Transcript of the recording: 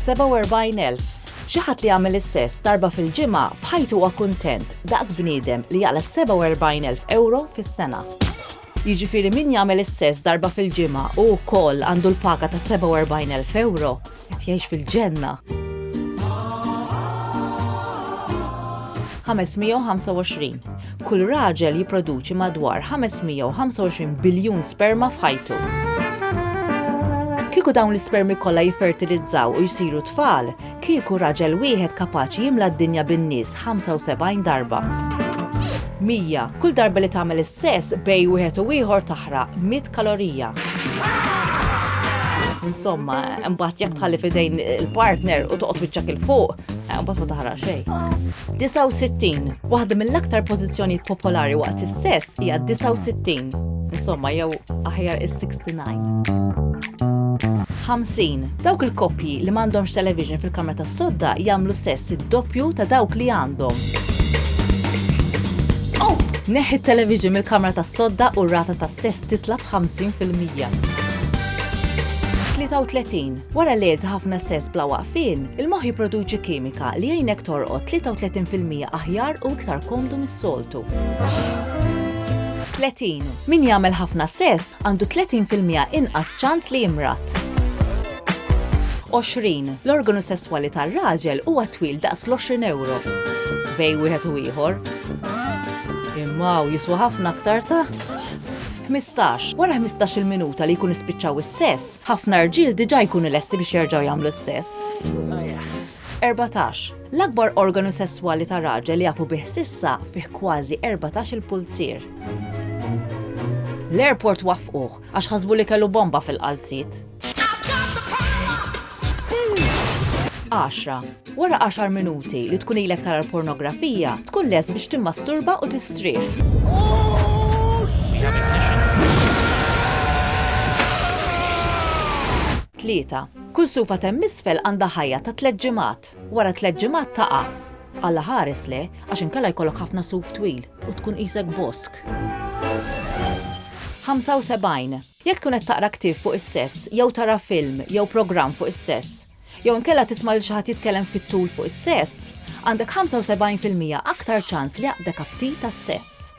47,000. Xi ħadd li jagħmel is-sess darba fil-ġimgħa f'ħajtu huwa kuntent daqs bniedem li jaqla' 47,000 euro fis-sena. Jiġifieri min jagħmel is-sess darba fil-ġimgħa u wkoll għandu l-paga ta' 47,000 euro Qed jgħix fil-ġenna. 525. Kull raġel jipproduċi madwar 525 biljun sperma f'ħajtu. Kieku dawn l-ispermi kollha jiffertilizzaw u jsiru tfal, kieku raġel wieħed kapaċi jimla d-dinja bin-nies 75 darba. 100. Kull darba li tagħmel is-sess bejn wieħed u ieħor taħraq 100 kalorija. Insomma, mbagħad jekk tħalli fidejn il-partner u toqgħod wiċċak il fuq, eh, mbagħad ma taħraq xejn. 69. Waħda mill-aktar pożizzjonijiet popolari waqt is-sess hija 69. Insomma, jew aħjar is-60. 49. 50. Dawk il-koppji li m'għandhomx television fil-kamra tas-sodda jagħmlu sess id-doppju ta' dawk li għandhom. Oh! Neħi t-television mill-kamra tas-sodda u r-rata tas-sess titla' b'50 fil-mija. 33. Wara lejl ta' ħafna sess bla waqfien, il-moħħ jipproduċi kimika li jgħinek torqod 33 fil-mija aħjar u iktar komdu mis-soltu. 30. Min jagħmel ħafna sess għandu 30 fil-miegħa inqas ċans li jimrad. 20. L-organu sesswali tar-raġel huwa twil daqs l-20 ewro bejn wieħed u ieħor. Imma hawn jiswa ħafna aktar ta' 15. Wara 15-il minuta li jkun ispiċċaw is-sess, ħafna rġiel diġà jkunu lesti biex jerġgħu jagħmlu s-sess. 14, L-akbar organu sesswali ta' raġel jafu bih s'issa fih kważi erbatax-il pulzier. L-airport waffquh għax ħasbu li kellu bomba fil-qalziet. 10, Wara għaxar minuti li tkun ilek tara l-pornografija, tkun lest biex timmasturba u tistrieħ. Tlieta. Kull sufa t'hemm isfel għandha ħajja ta' tliet ġimgħat. Wara tliet ġimgħat taqa'. Alla ħares le, għax inkella jkollok ħafna suf twil u tkun qisek bosk. 75 Jekk tkun qed taqra ktieb fuq is-sess, jew tara film jew programm fuq is-sess, jew inkella tisma' lil xi ħadd jitkellem fit-tul fuq is-sess, għandek 75 fil-mija aktar ċans li jaqbdek aptit għas-sess.